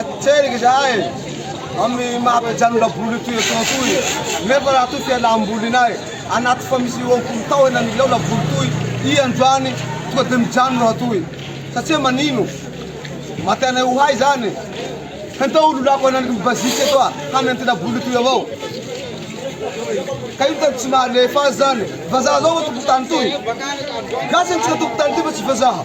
Tseriky izahay amin'ny maha mpijanona boly ity eto ity nefa raha toa fialam-bolinay anaty fa misy eo am-polo taona ny laona boly toy i androany tonga dia mijanona raha toa satsia manino matianay ho hay izany hentao ololako ananiky ny bazika eto a hanentina boly ity avao ka io tany tsy mahalefa azy izany vazaha zao eo tompon-tany toy gasy antsika tompon-tany ity fa tsy vazaha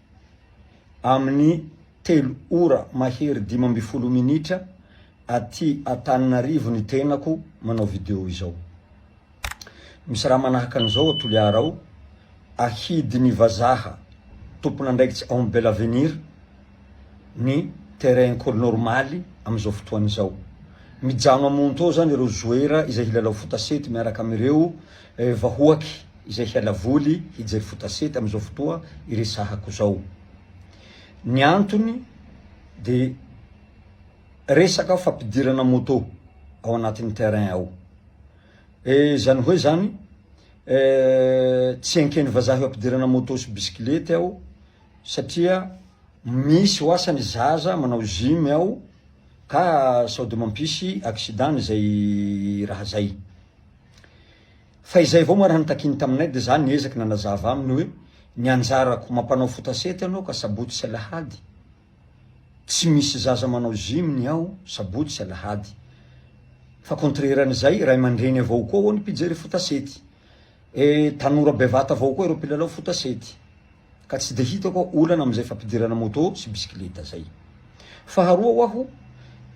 amin'ny telo ora mahery dimy ambin'ny folo minitra aty Antananarivo ny tenako manao video izao. Misy raha manahaka an'izao ao Toliara ao, ahidin'ny vazaha tompon'andraikitry ao amin'ny Belle Avenir ny terrain Ecole Normale amin'izao fotoana izao. Mijano amonto ao izany ireo joueurs izay hilalao fotasety miaraka amin'ireo vahoaky. izay hiala voly hijery foot asety amin'izao fotoa iresahako izao. Ny antony dia resaka fampidirana moto ao anatin'ny terrain ao. Eh, izany hoe izany, eh, tsy enken'ny vazaha eo ampidirana moto sy bisikilety ao satria misy ho asa ny zaza manao gym ao ka sao dia mampisy accident izay raha izay. Fa izay avao moa raha nitakiany taminay dia za niezaky nanazava aminy hoe ny anjarako mampanao foot sety anao ka sabotsy sy alahady tsy misy zaza manao gym ny ao sabotsy sy alahady fa contraire an'izay ray aman-dreny avao koa ao ny mpijery foot sety eh tanora bevata avao koa ireo mpilalao foot sety ka tsy dia hitako olana amin'izay fampidirana moto sy bisikileta zay. Faharoa ho'aho,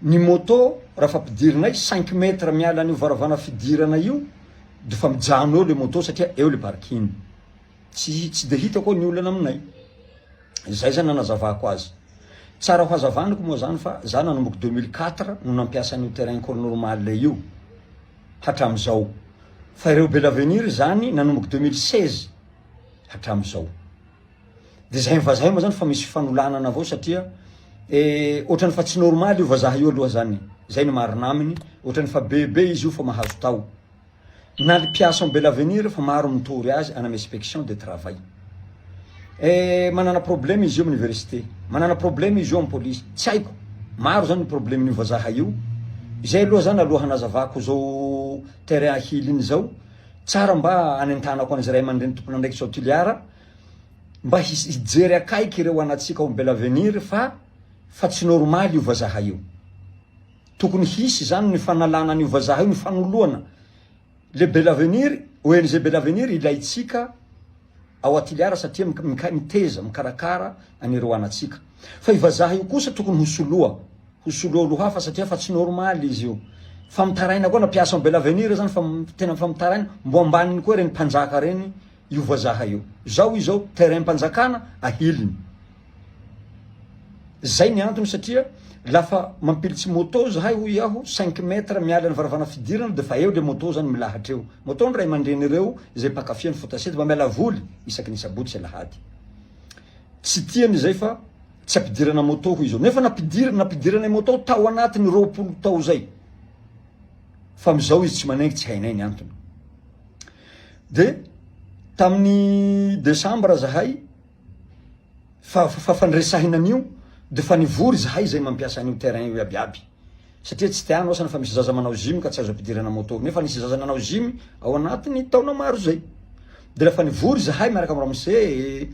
ny moto raha fampidirinay cinq mètres miala an'io varavarana fidirana io de fa mijano eo le moto satria eo le parking. Tsy tsy dia hitako ny olana aminay. Zay zany nanazavako azy. Tsara ho hazavaniko moa zany fa za nanomboka deux mille quatre no nampiasa an'io terrain cours normal io hatram'izao. Fa ireo belavenir zany nanomboka deux mille seize. hatramin'izao. Dia izay ny vazaha moa zany fa misy fanolanana avao satria eh, ohatrany fa tsy normaly io vazaha io aloha zany. Izay ny marina aminy, ohatrany fa bebe izy io fa mahazo tao. Na ny mpiasa Bel Avenir fa maro mitory azy any amin'ny inspection de travail. Eh, manana problème izy io amin'ny université, manana problème izy io amin'ny police. Tsy haiko, maro zany ny problème io vazaha io. Izay aloha zany aloha hanazavako izao terrain ahiliny izao. Tsara mba hanentanako an'izay ray aman-dreny tompon'andraikitra ao Toliara mba hijery akaiky ireo anantsika ao Belavenir fa fa tsy normaly io vazaha io. Tokony hisy izany ny fanalana an'io vazaha io, ny fanoloana le Belavenir, ONG Belavenir ilaintsika ao Atiliara satria mika miteza, mikarakara an'ireo anantsika. Fa io vazaha io kosa tokony ho soloa ho solo olo hafa satria fa tsy normal izy io fa mitaraina koa na mpiasa am belle avenir aza fa tena fa mitaraina mbo ambaniny koa reny mpanjaka reny io vazaha io zao izao terrain mpanjakana ahiliny zay ny antony satria lafa mampilitsy moto zahay hoy aho cinq metre miala ny varavana fidirana de fa eo le moto zany milahatra eo moto ny ray aman-dreny ireo zay mpakafy an'i fotasiety mba miala voly isaky ny sabotsy sy alahady tsy tiany zay fa Tsy ampidirana moto hoy izao. Nefa nampidirina, nampidirana moto tao anatiny roapolo tao izay. Fa amin'izao izy tsy manaingy, tsy hainay ny antony. De tamin'ny desambra zahay fa fa fandresahina an'io de fa nivory zahay zay mampiasa an'io terrain io iabiaby. Satria tsy tianao sana fa misy zaza manao gym ka tsy azo ampidirana moto nefa nisy zaza nanao gym ao anatiny taona maro zay de refa nivory zahay miaraka am ramose e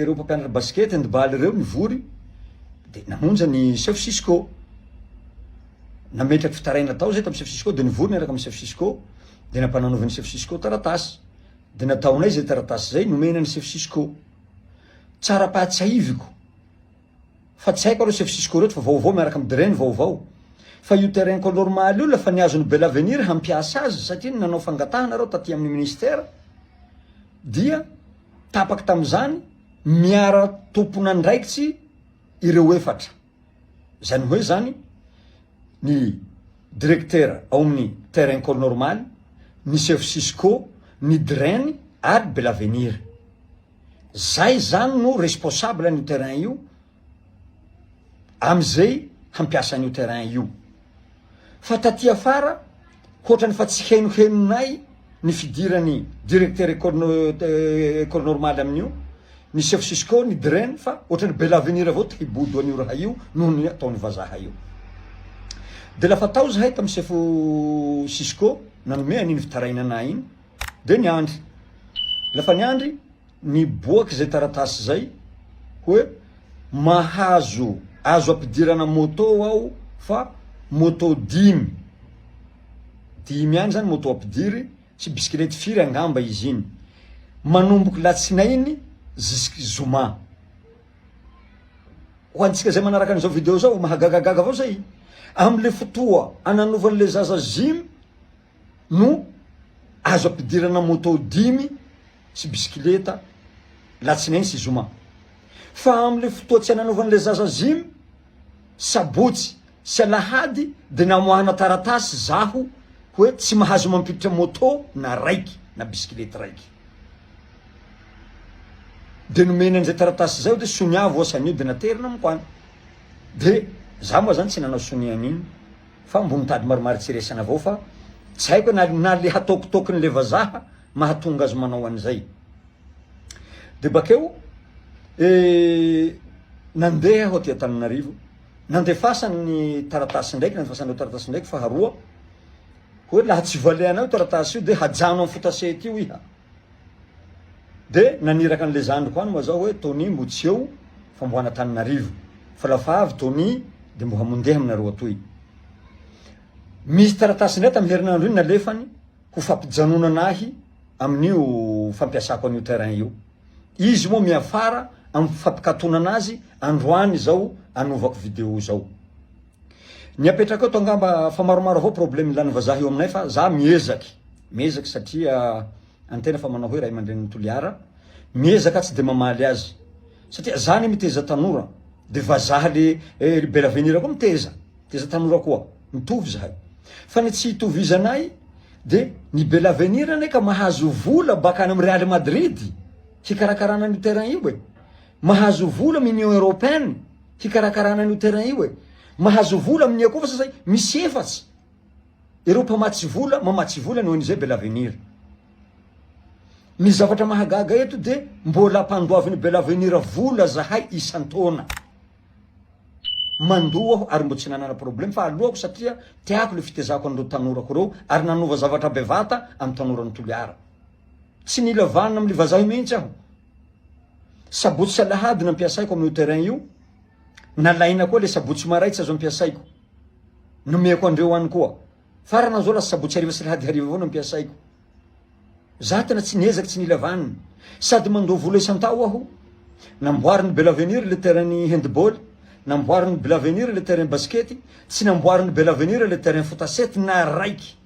reo mpampianatra basket hand ball reo nivory de namonja ny chef cisco nametraky fitaraina tao zay tam chef cisco de nivory niaraka am chef cisco de nampananaovy ny chef cisco taratasy de nataonay zay taratasy zay nomena ny chef cisco tsara pahatsiahiviko Fa tsy haiko aloha Chef Cisco reto fa vaovao miaraka am Dre ny vaovao. Fa io terrain ko normal io lefa niazon'i Belavenir hampiasa azy satria ny nanao fangatahana reo taty amin'ny ministère dia tapaky tamin'izany miara tompon'andraikitsy ireo efatra. Izany hoe izany ny Direktera ao amin'ny terrain ko normal, ny Chef Cisco, ny Dren ary Belavenir. Zay zany no responsable an'io terrain io amzay hampiasa an'io terrain io. Fa taty afara hoatrany fa tsy henohenonay ny fidirany directeur école école normale amin'io, ny chef cisco, ny DREN fa hoatrany bel avenir avao te hibodo an'io raha io noho ny ataon'ny vazaha io. De lafa tao zahay tam sefo cisco nanome an'iny fitarainana iny, Dia niandry. Rehefa niandry, niboaka izay taratasy izay hoe mahazo, azo ampidirana moto aho fa moto dimy, dimy ihany izany moto ampidiry sy bisikilety firy angamba izy iny. Manomboka latsinainy zisk'i zoma. Ho antsika izay manaraka an'izao video izao, mahagagagaga avao izay. Amin'ilay fotoa ananovan'ilay zaza zimy, no azo ampidirana moto dimy sy bisikileta latsinainy sy zoma. Fa amin'ilay fotoa tsy ananaovan'ilay zaza gym, sabotsy sy alahady dia namoahana taratasy zaho hoe tsy mahazo mampiditra moto na raiky na bisikilety raiky. Dia nomeny an'izay taratasy izay aho dia sonia voasanio dia naterina amiko any. Dia za moa zany tsy nanao sonia an'iny. Fa ambonin-tady maromaro tsy resana avao fa tsy haiko na na le hataokitaokiny le vazaha mahatonga azy manao an'izay. De bakeo nandeha aho aty Antananarivo, nandefasany ny taratasy ndraiky, nandefasany ireo taratasy ndraiky faharoa, hoe laha tsy valehanao io taratasy io de hajano amin'ny fotase ety io iha. De naniraka an'le zandriko any moa zao hoe Tony mbo tsy eo fa mbo any Antananarivo fa lafa avy Tony de mbo hamondeha aminareo atoy. Misy taratasy indray tamin'ny herinandro iny nalefany ho fampijanonana ahy amin'io fampiasako an'io terrain io. Izy moa miafara amin'ny fampikatonana azy androany izao anovako video izao. Ny apetrako eto angamba fa maromaro avao problème ilany vazaha eo aminay fa za miezaky miezaky satria antena fa manao hoe ray aman-drenin'i Toliara miezaka tsy de mamaly azy satria za anie miteza tanora de vazaha le eh, bel avenir koa miteza miteza tanora koa mitovy zahay fa ny tsy hitovizanay de ny bel avenir anie ka mahazo vola baka any amin'ny Real Madrid hikarakarana an'io terrain io e mahazo vola amin'ny Union Européenne hikarakarana an'io terrain io e. Mahazo vola amin'ny akofa sasany misy efatsy. Ireo mpamatsy vola, mamatsy vola ny ONG Bel Avenir. Ny zavatra mahagaga eto dia mbola ampandoavin'ny Bel Avenir vola zahay isan-taona. Mandoa aho ary mbola tsy nanana problème fa aloako satria tiako le fitezako an'ireo tanorako ireo ary nanova zavatra bevata amin'ny tanoran'i Toliara. Tsy nila vanona amin'ny vazaha mihitsy aho Sabotsy sy alahady no ampiasaiko amin'io terrain io, nalaina koa le sabotsy sy maraitsa zao ampiasaiko, nomeko andreo any koa, farana zao lasa sabotsy hariva sy alahady hariva avao no ampiasaiko, za tena tsy niezaky tsy nila vaniny, sady mandoa vola isan-tao aho, namboarin'i Belavenir le terrain-n'ny handball, namboarin'i Belavenir le terrain basikety, tsy namboarin'i Belavenir le terrain fotasety na raiky,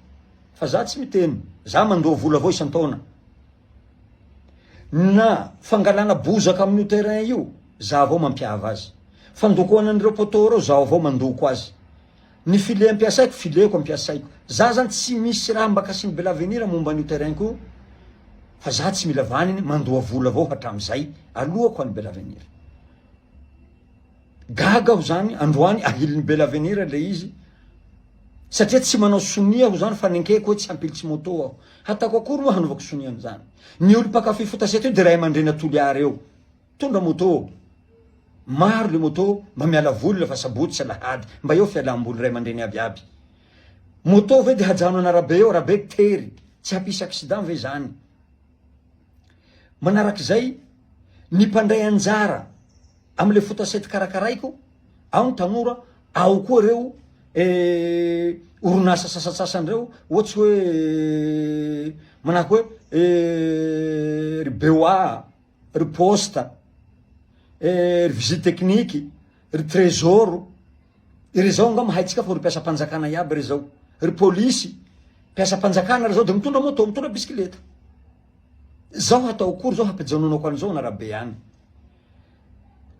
fa za tsy miteny, za mandoa vola avao isan-taona. Na fangalana bozaka amin'io terrain io, za avao mampiava azy. Fandokoana an'ireo poteaux ireo, zaho avao mandoko azy. Ny file ampiasaiko, fileko ampiasaiko. Za zany tsy misy raha mba cassing de l'avenir momba an'io terrain ko, fa za tsy mila vaniny, mandoa vola avao hatramizay, alohako any belavenir. Gaga aho zany androany ahilin'i bella avenir ilay izy satria tsy manao sonia aho zany fa nenkeko hoe tsy hampilitsy moto aho hataoko akory moa hanaovako sonia an'izany ny olo mpakafy fotasety io de ray aman-dreny atoliara eo tondra moto maro le moto mba miala voly fa sabotsy sy alahady mba eo fialam-boly ray aman-dreny aby aby moto ve de hajano an'arabe eo arabe tery tsy hampisy accident ve zany Manarak'izay, ny mpandray anjara amin'ilay fotasety karakaraiko, ao ny tanora, ao koa ireo orinasa sasantsasany ireo, ohatsy hoe manahaka hoe ry BOA, ry poste, ry visite technique, ry trésor. Ry zao nga mahaitsika fa ry mpiasam-panjakana iaby ry zao, ry polisy, mpiasam-panjakana ry zao de mitondra moto, mitondra bisikileta. Zao hatao akory zao hampijanonako an'izao an arabe any.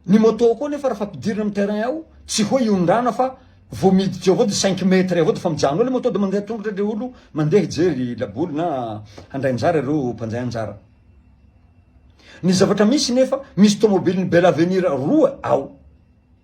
Ny moto koa nefa raha fampidirina amin'ny terrain ao, tsy hoe iondrana fa vao miditra eo avao de cinq mètres avao de fa mijano ao le moto de mandeha tongotra le olo mandeha hijery laboly na handray anjara ireo mpandray anjara. Ny zavatra misy nefa misy tomobilin'ny bel avenir roa ao.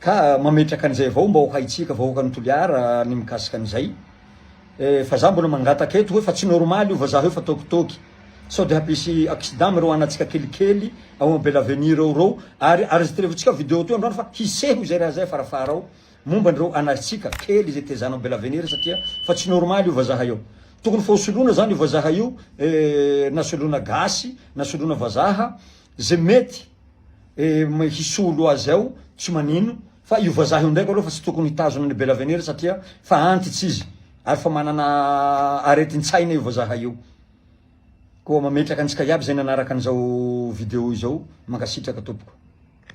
Ka mametraka an'izay avao mba ho haintsika vahoakan'i Toliara ny mikasika an'izay. Eh, fa za mbola mangataka eto hoe fa tsy normal io vazaha io fa tôkitôky. Sao dia hampisy accident amin'ireo anantsika kelikely ao am Belle Avenue reo reo. Ary arezitrevotsika video toy androany fa hiseho izay raha izay farafahara ao momba an'ireo anantsika kely izay tezana ao Belle Avenue re satria fa tsy normal io vazaha io. Tokony fa ho soloina zany io vazaha io eh, na soloina gasy na soloina vazaha Ze mety hisolo azy ao tsy manino fa io vazaha io ndraiky aloha fa tsy tokony hitazona an'i Bella Venir satria fa antitsa izy ary fa manana aretin-tsaina io vazaha io. Koa mametraka antsika iaby zay nanaraka an'izao video izao, mankasitraka tompoko.